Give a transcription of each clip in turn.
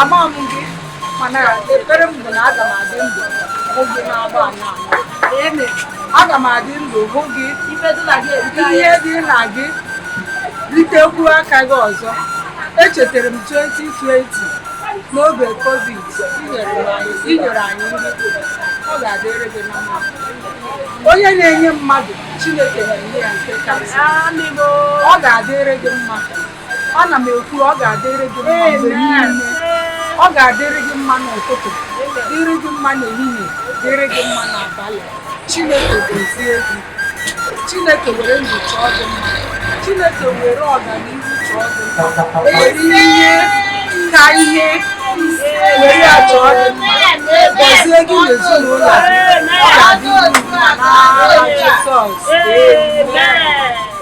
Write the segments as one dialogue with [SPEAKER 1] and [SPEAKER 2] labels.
[SPEAKER 1] ama m gị mana ekpere m bụ na aga m adị ndụ hụ gị na-agba ala ala aga m adị ndụ hụ gị ihe dị na gị ritekwuo aka gị ọzọ echetara m 2020 n'oge covid i nyere anyị nri ọ ga-adịrị gị na mma onye na-enye mmadụ chineke na-enye ya nke karịsịa ọ ga-adịrị gị mma ana m ekwu ọ ga-adịrị gị mma mgbe niile ọ ga-adịrị gị mma n'ụtụtụ dịrị gị mma n'ehihie dịrị gị mma n'abalị chineke gọzie gị chineke were ndụ chọọ gị mma chineke were ọganihu chọọ gị mma were ihe ka ihe were ya chọọ gị mma gọzie gị n'ezinụlọ gị ọ ga-adịrị gị mma n'aha Jizọs amen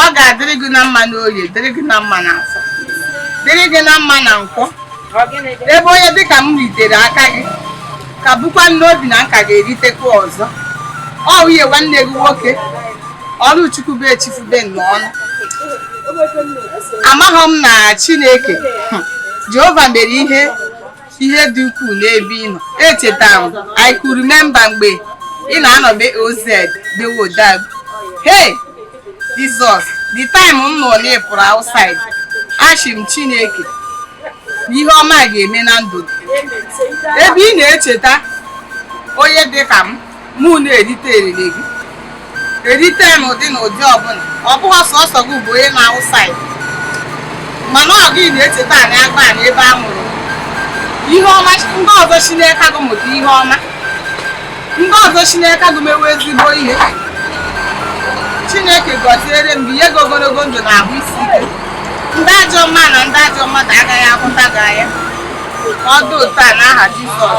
[SPEAKER 2] ọ ga-adịrị gị na mma n'oye dịrị gị na mma na afọ dịrị gị na mma na nkwọ ebe onye dịka m ritere aka gị ka bukwa n'obi na m ka ga-eritekwa ọzọ ọ nwunye nwanne gị nwoke ọlụchukwu bụ echifube n'ọnụ amaghị m na chineke jehova mere ihe ihe dị ukwuu n'ebe ị nọ echetara m I could remember mgbe ị na-anọbe oz dewo dag hey Jizọs the time m nụ na ị pụrụ outside asị m Chineke ihe ọma ga-eme na ndụ gị ebe ị na-echeta onye dị ka m mụ na-erite eriri gị erite n'ụdị na ụdị ọbụla ọ bụghị sọsọ gị bụ onye nọ outside mana ọ gị na-echeta anyị agbanị ebe a mụrụ ihe ọma ndị ọzọ si n'eka gụ mụta ihe ọma ndị ọzọ si n'eka gụ mewe ezigbo ihe chineke gọziere m gị nye gị ogologo ndụ na ahụ isi ike ndị ajọ mma na ndị ajọ mmadụ agaghị ahụta gị anya ọ dị otu a n'aha Jizọs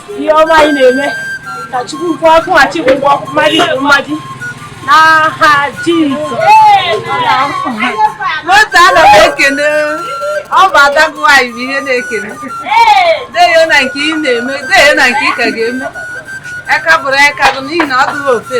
[SPEAKER 3] ihe ọma ị na-eme ka Chukwu kwụọ akwụghachi ụgwọ mmadụ bụ mmadụ n'aha Jizọs
[SPEAKER 1] n'otu ana m ekene ọ bụ ada gụ nwaanyị bụ ihe na-ekene deyo na nke ị na-eme deyo na nke ị ka ga-eme aka bụrụ aka gị n'ihi na ọ dụghị ofe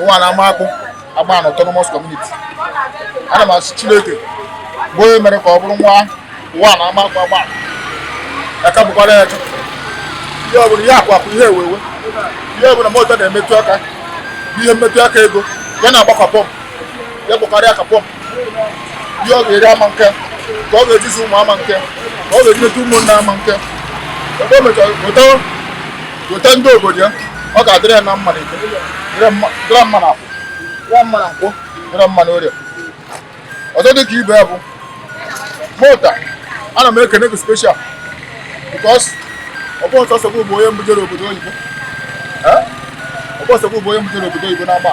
[SPEAKER 4] ụwanị amakpụ agbanị autonomous community ana m asị chineke bụ onye mere ka ọ bụrụ nwa ụwanị amakpụ agbanị aka bụkwara ya chụ ihe ọbụla ihe akụ akụ ihe enwe enwe ihe ọbụla moto na-emetụ aka ihe mmetụ aka ego ya na-agba ka pọmpụ ya gbakarịa ka pọmpụ ihe ọ ga-eri ama nke ka ọ ga-eji zụ ụmụ ya ma nke ka ọ ga-eji leta ụmụnne ya ma nke ebe o mechara gote ndị obodo ya ọ ga-adịrị ya na mma n'eke dịrị mma n'afọ dịrị mma na nkwọ dịrị mma n'orie ọzọ dị ka ibe ya bụ mota ana m ekene gị special because ọ bụ sọsọ bụ onye mbụ jere obodo oyibo ọ bụ sọsọ bụ onye mbụ jere obodo oyibo na-agba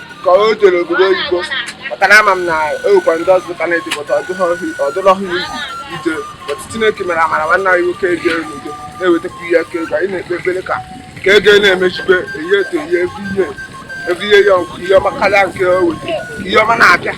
[SPEAKER 5] ka o jere obodo oyibo maka na ama m na e nwekwa ndị ọzọ ka na-edepụta ọdụlọhụ iwu ije otu chineke mere amara nwanne anyị nwoke ejere n'udo na-ewetakwa ihe aka ego anyị na-ekpe ekpere ka ka ego na-emechibe eyi eto eyi evi ihe evi ihe ya ihe ọma karịa nke o weta ihe ọma na-abịa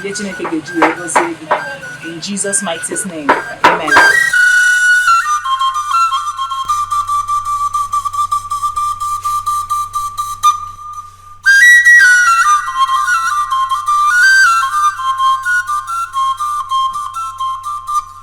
[SPEAKER 6] ihe Chineke ga-eji wee gọzie gị in Jesus mightiest name amen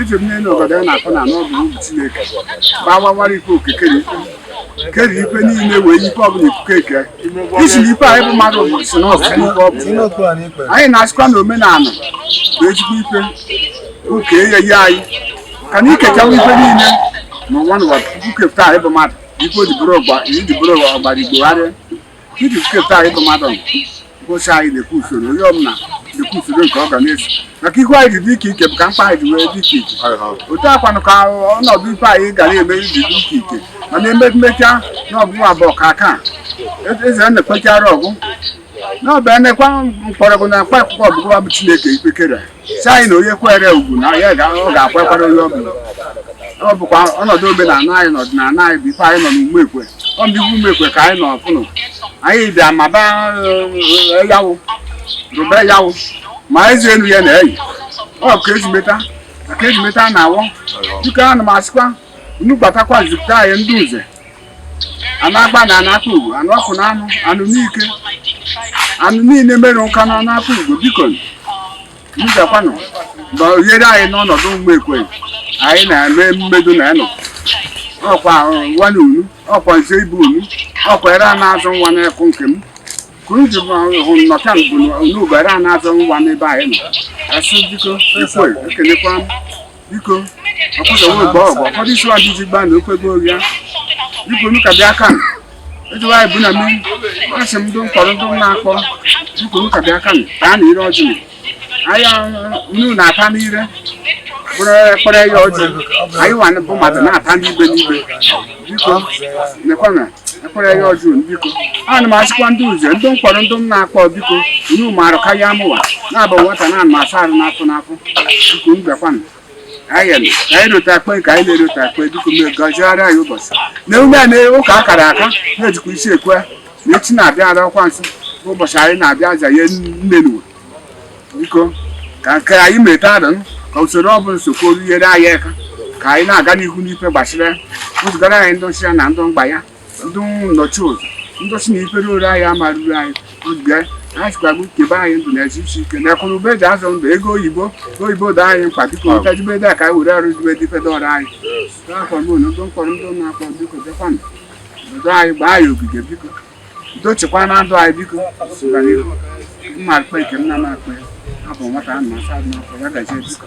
[SPEAKER 7] eji m n'elu obodo a na-akpọ na n'ọbụ ugwu chineke gbawawara ife okike na ife kere ife niile wee ife ọbụla ikuku eke isi na ife anyị bụ mmadụ bụ si na ọsụ ife ọ bụ anyị na-asịkwa na omenala na ezigbo ife oke ya ya anyị ka na ikechawa ife niile ma nwa n'ụwa tupu kepụta anyị bụ mmadụ ife o ji bụrụ ọgba ijibụrụ ọgbara igbogharịa Iji kepụta anyị bụ mmadụ bụcha anyị na-ekwu usoro onye ọbụla na-ekwu usoro nke ọ ga na-eso maka ihu anyị dị iche iche bụ ka mkpa anyị ji wee dị iche iche otu a kwanụ ka ọnọdụ ife anyị ga na-eme iji dị iche iche mana ememmecha na ọgụgụ abụọ ka aka e-, eze na-ekpechara ọgwụ na ọbịa nekwa mkpọrọgwụ na mkpa akwụkwọ ọgụgụ abụ Chineke kere sị anyị na onye kwere ugwu na ya ọ ga-ekwekwara onye ọ bụla ọ bụkwa ọnọdụ omenala anyị na ọdịnala anyị bụ ife anyị nọ n'ume ekwe ọ bụ ife ume ekwe ka anyị nọ ọfụnụ anyị bịa maba yawụ rụbe yawụ ma ezi elu ya na-eyi ọ ka ezumeta ka ezumeta na-awọ dịka ana m asịkwa unu gbatakwa zipụta anyị ndị nze anụ agba na anakpa ugo anụ ọkụ na anụ anụ n'ike anụ niile mere ụka na anakpa ugo biko bịakwanụ gbaziere anyị n'ọnọdụ ume ekwe anyị na-eme mmedo na anọ ọkwa nwa na unu ọkwa nze bụ unu ọkwa ere a na-azụ nwa n'ekụ nke m ka unu ji hụ nnọta mbụ na unu bụ ere a na-azụ nwa n'ebe anyị nọ asị biko ekwe ekelekwa m biko ọkpụsọwụrụ bụ ọgwụ ụfọdụ isi ọjị ji gbaa na ofe gị oria biko nu ka bịa ka m ejiwa anyị bụ na mmiri asị m ndị m kpọrọ ndị m na-akpọ biko nu ka bịa ka m taa na ire ọjị m aya unu na-ata n'ire bụrụ ekpere ya ọjị anyị nwa bụ mmadụ na-ata n'ibe n'ibe biko nekwana ekpere ya ọjị biko ana m asịkwa ndị uze ndị m kpọrọ ndị m na-akpọ biko unu marụ karịa mụwa na-abụ nwata na anụ asa arụ n'afọ n'afọ biko unu bịakwanụ anyị nọ ka anyị rota akpe ka anyị na-erota akpe biko m gọziara anyị ụbọchị na emume a na ụka akara aka na-ejikwa isi ekwe na echi na-abịa ara ọkwa nsọ ụbọchị anyị na-abịa aja ya nne n'ụwa biko ka nke anyị meta adụ ka usoro ọ bụla sokwa nyere anyị aka ka anyị na-aga n'ihu n'ife gbasara wezụgara anyị ndị ọchịchị na ndị mgba ya ndị nnọchi ụzọ ndị ọchị na ifere ore anyị amarụrụ anyị oge anyị sikwa bụ kebe anyị ndụ na arụ isi ike na akụ na ụba eji azụ ndụ ego oyibo ego oyibo dị anyị mkpa biko nta jibe dị a ka anyị were arụ jibe dị ifedo ọrụ anyị n'afọ mụ na ndị m kpọrọ ndị na-akpọ biko bịakwanụ obodo anyị gbaa ya ogige biko udo chekwa na ndụ anyị biko sụga n'ihu mma akpa nke nna m akpa ya abụ nwata a na-asa n'afọ ya gazie biko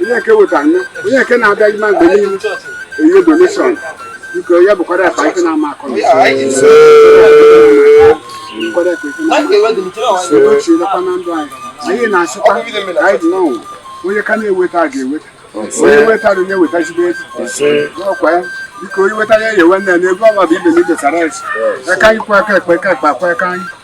[SPEAKER 7] onye nke weta nni onye nke na-abịa ime mgbe niile enye donation biko ya bụkwara akpa ife na-ama akọ na bụkwara akpa ife na-ama edochielekwa na ndụ anyị anyị na-asịkwa ka anyị dị n'ọnwụ onye ka na-eweta a ga-eweta onye wetara onye wetazigbo ego n'ọkwa ya biko onye wetara ya ewe nne na ego ọma bụ ibe na idosara a sị aka nni kwọ aka ekpe aka ekpe akwọ aka nni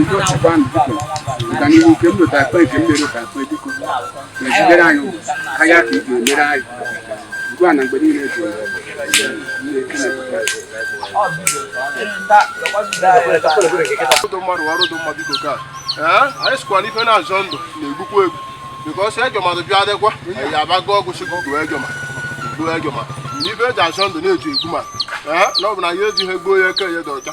[SPEAKER 7] udo chịkwa ndụ biko ga n'ihu nke m lụta akpa nke m mere ụka akpa biko mezigere anyị ụwa karịa ka ị ga-emere anyị ugbu a na mgbe niile ji
[SPEAKER 5] ọdụ mmadụ ọrụ dị mma biko ka ee anyị sịkwa na ife na-azọ ndụ na-egbukwa egbu because ajọ mmadụ bịa adịkwa anyị abago ọgwụ chukwu gbuo ejọma gbuo ejọma n'ife eji azọ ndụ na eji egbu ma ee na ọ bụ na ya ejighị egbuo ya eke ya dị ọcha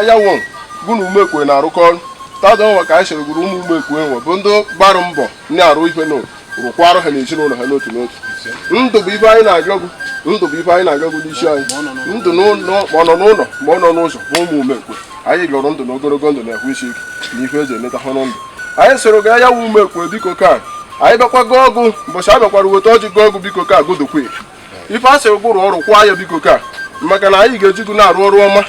[SPEAKER 5] eyanwo eh, gụ na umekwe na-arụkọ ọrụ taata nwa ka anyị sịrị gwuru ụmụ umekwe nwe bụ ndị gbara mbọ ndị arụ ihe na rụkwara ha n'ezinụlọ ha n'otu n'otu ndụ bụ ife anyị na-agọ gụ ndụ bụ ife anyị na-agọ gụ n'isi anyị ndụ ma ọ nọ n'ụlọ ma ọ nọ n'ụzọ bụ ụmụ umekwe anyị lụrụ ndụ na ogologo ndụ na ahụ isi ike na ife eji eleta ha ndụ anyị sịrị ga ya wụ umekwe biko ka anyị bịakwa gọọ gụ mbọchị a bịakwara weta ọjị gọọ gụ biko ka agụdụkwe ife a sị gụ rụọ ị rụkwaa ya biko ka maka na anyị ga-eji gị na-arụ ọrụ ọma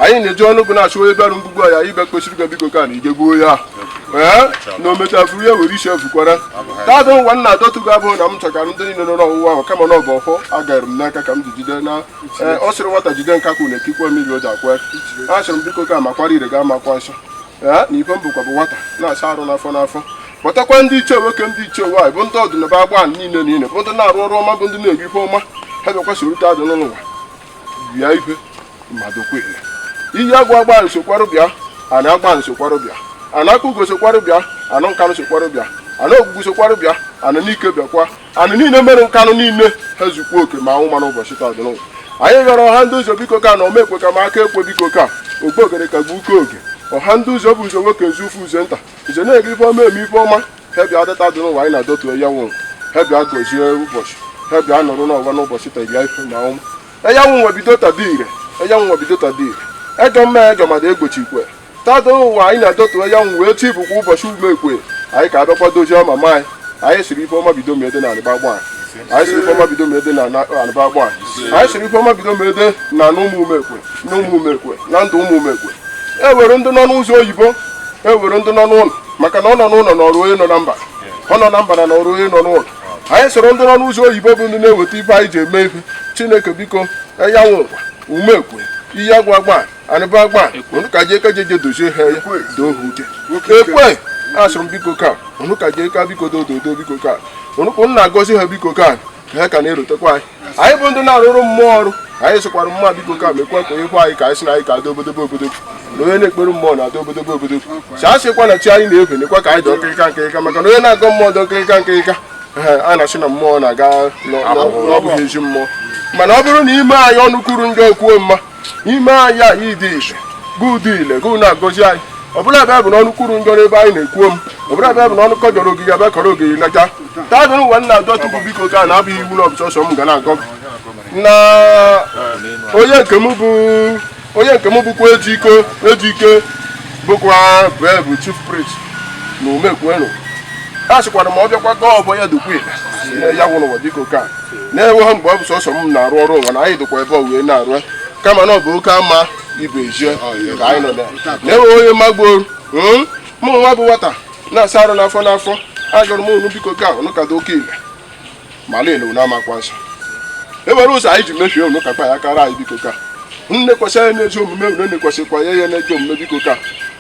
[SPEAKER 5] anyị na-eji ọnụ gị na-achụ onye bịarụ mgbugbu anyị bịa kpesiri gị biko ka na ị je gbuo ya ee na omechafuru ya were isi efukwara taata nwa nna adọtụ gị abụghị na m chọkara ndị niile nọ n'ọwụwa ahụ kama na ọ bụ ọfọ a gara m n'aka ka m ji jide na ee ọ sịrị nwata jide nkakwụ na e kukwe mmiri o ji akwọ aka sịrị m biko ka makwara ire ga amakwa nsọ ee na ife m bụkwa bụ nwata na-asa arụ n'afọ n'afọ kpọtakwa ndị ichie nwoke ndị ichie nwaanyị bụ ndị ọdịnaba agba niile niile bụ ndị na-arụ ọrụ ọma bụ ndị na-eri ife ọma ha bịakwa soro taa dị n'ụwa bịa ife mmadụ kwele iyi agwa agba nsokwarụ bịa ana agba nsokwarụ bịa ana akpugo sokwarụ bịa ana nkanụ sokwarụ bịa ana ogwugwu sokwarụ bịa ana nike bịakwa ana niile mere nkanụ niile ha zukwa oke ma anwụ ma n'ụbọchị taa dị n'ụwa anyị gara ọha ndị ụzọ biko ka na omekwe ka ma aka ekwe biko ka ogbe ogere ka gbuo uke oge ọha ndị ụzọ bụ ụzọ nwoke ezu ụzọ nta nze na-eri ife ọma eme ife ọma ha bịa dị taa dị n'ụwa anyị na-adọtu eyanwụ ha bịa gozie ụbọchị ha bịa nọrọ n'ụwa n'ụbọchị taa ife na ọnwụ eyanwụ bido taa dị ire eyanwụ bido taa dị ire ejọ mma ejọ mmadụ egbochikwe taa dị ụwa anyị na-adọtu eyanwụ wee chi bụkwa ụbọchị umekwe anyị ka abịakwa dozie ọma ma anyị anyị sịrị ife ọma bido mede na alịgbagba anyị anyị sịrị ife ọma bido mede na alụba agba anyị sịrị ife ọma bido mede na na ụmụ umekwe na ụmụ umekwe na ndụ ụmụ umekwe e were ndị nọ n'ụzọ oyibo e were ndị nọ n'ụlọ maka na ọ nọ n'ụlọ nọọrụ onye nọ na mba ọ nọ na mba nọọrụ onye nọ n'ụlọ anyị soro ndị nọ n'ụzọ oyibo bụ ndị na-eweta ife anyị ji eme ife chineke biko eyanwụkwa umekwe iyi agwa agba anụba agba unu ka jee ka jeje dozie ha ya doo ha uche ekwe asụrụ m biko ka unu ka jee ka biko doo dodo biko ka unu ka na-agọzi ha biko ka ha ka na-erotekwa anyị anyị bụ ndị na-arụrụ mmụọ ọrụ anyị sịkwara mmụọ biko ka mekwa ka ịhụ anyị ka anyị si na anyị ka adị obodobo obodobo na onye na-ekpere mmụọ na-adị obodobo obodobo si a sịkwa na chi anyị na-efe nekwa ka anyị dị nkịrịka nkịrịka maka na onye na-agọ mmụọ dị nkịrịka nkịrịka a na-asị na mmụọ na-agọ abụghị ezi mmụọ mana ọ bụrụ na i mee anyị ọnụ kwuru njọ kwuo mma i mee anyị anyị dị ise gị dị ile gị na-agọzi anyị ọ bụrụ ebe bụ n'ọnụ kwuru njọ n'ebe anyị na-ekwu ọma ọ bụrụ ebe bụ n'ọnụ kọjọrọ ogige abịa kọrọ ogige leta taa dịrị ụwa na-adọtu biko ka na abụghị iwu na ọ bụ sọsọ m ga na-agọ na onye nke m bụ onye nke m bụkwa ejike ejike bụkwa bụ chief priest na umekwenu a sịkwara ma ọ bịakwa gọọ ọfọ ya dịkwa ile eyanwụ ụwa biko ka a na-enweghị mgbe ọ bụ sọsọ m na-arụ ọrụ ụwa na anyị dịkwa ebe wee na-arụ kama na ọ bụ oke ama ibe ejie ka anyị nọ na-enweghị onye magbuo hmm? mụ nwa bụ nwata na-asa arụ n'afọ n'afọ asụrụ m unu biko ka unu ka dị oke ile ma lele unu amakwa nsọ e were ụzọ anyị ji mefie unu kakpa ya kara anyị biko ka nne kwesịrị anyị n'ezi omume unu na-ekwesịkwa ya ya n'ezi omume biko ka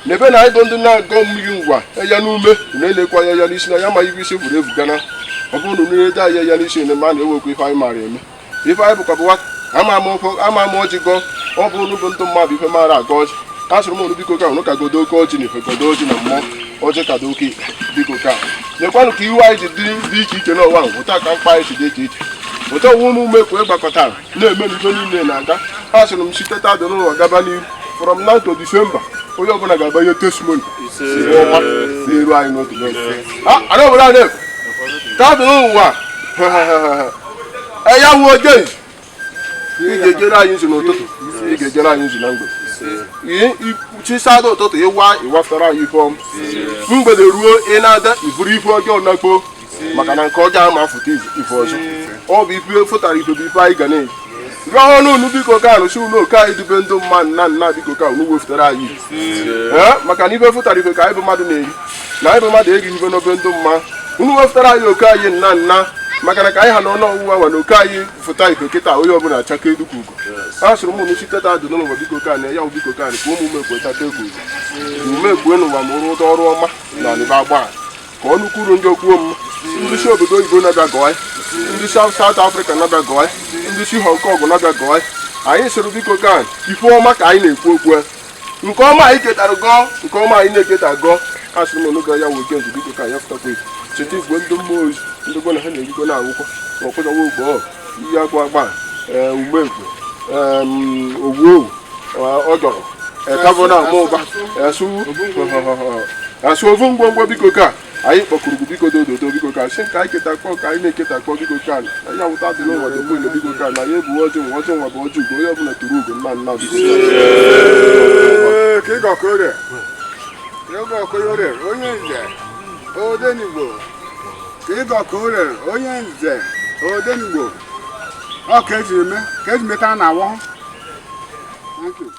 [SPEAKER 5] na ebe na anyị bụ ndị na-agọ mmiri ngwa ya n'ume unu elekwa ya ya n'isi na ya ma ibe isi buru ebu gana ọ bụrụ na unu na-ede anyị ya n'isi na ma na-ewekwa ife anyị maara eme ife anyị bụkwa bụ nwata ama ama ọjị gọọ ọ bụ unu bụ ndị mmadụ ife maara agọ ọjị a sụrụ m unu biko ka unu ka gọdo oke ọjị na ife gọdo ọjị na mmụọ ọjị ka dị oke biko ka lekwanụ ka ihu anyị ji dị dị iche iche n'ụwa ahụ otu a ka mkpa anyị si dị iche iche otu ọnwụ ụmụ Umekwe gbakọtara na-eme n'ihe niile na-aga a sịrị m site taa dị nụwa gaba n'iru from now to December onye ọbụla ga-agba ihe testimony n'iru anyị n'otu ana obodo a na-efu taa dị nụwa eya wuo jei ị ga-ejere anyị nzu n'ụtụtụ ị ga-ejere anyị nzu na mgbede ihe chisada ụtụtụ ịwa ịwafere anyị ife ọma mgbede ruo ị na-ada i buru ife ọjọọ nakpuo maka na nke ọjọọ ama afụta ife ọzọ ọ bụ ife fụtara ife bụ ife anyị ga na-eji rụọ ọnụ unu biko ka arụsị ụlọ oke anyị dube ndị mma nna nna biko ka unu wefụtara anyị maka na ife fụtara ife ka anyị bụ mmadụ na-eri na anyị bụ mmadụ erighị ife n'obe ndị mma unu wefụtara anyị oke anyị nna nna maka na ka anyị ha na ọnụ ọwụwa nwa na oke anyị fụta ife kịta onye ọbụla achakee dịka ugo a sịrị m unu site taa dị nụwa biko ka na ya biko ka ka ụmụ Umekwe taa taa ugo Umekwe n'ụwa ma ụrụ ụdọ ọrụ ọma na ọnịba agba ka ọnụ kwuru njọ o kwuo mma ndị si obodo oyibo na-abịa gọọ ndị si South Africa na-abịa gọọ ndị si Hong Kong na-abịa gọọ anyị sịrị biko ka ife ọma ka anyị na-ekwu okwu nke ọma anyị ketara gọọ nke ọma anyị na-eketa gọọ asị m onụgọ ya nwoke nzu biko ka ya fụtakwa efu cheta igwe ndị mmụọ ozi ndị gwa na ha na-erigo na akwụkwọ ma ọkpụzawa ogbo ọ iyi agwa agba ee, Umekwe em, ogwu owu ee, ọ dọrọ ekabụ na ama ụba asụ asụ ofu ngwongwo biko ka anyị kpọkuru gị biko dododo biko ka sị ka anyị ketakpọ ka anyị na-eketakpọ biko ka na ya wụ taa dị nụwa dị mgbe biko ka na ya bụ ọjị nwa ọjị nwa bụ ọjị ugo onye ọbụla tụrụ ugo mma mma biko ka ị gọ ka o ree ka ị gọ ka o
[SPEAKER 7] ree onye nze Odenigbo ka ị gọ ka o ree onye nze Odenigbo ọ ka eji eme ka eji meta na awọ thank you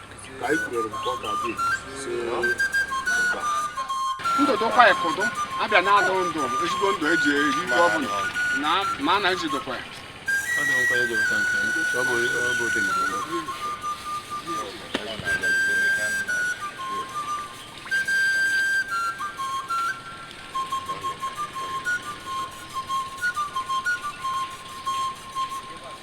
[SPEAKER 7] ndụ dụkwa ịkụdụ abịa na-adụ ndụ ezigbo ndụ eji eri ihe ọ bụla na ma a na-ejidokwa ya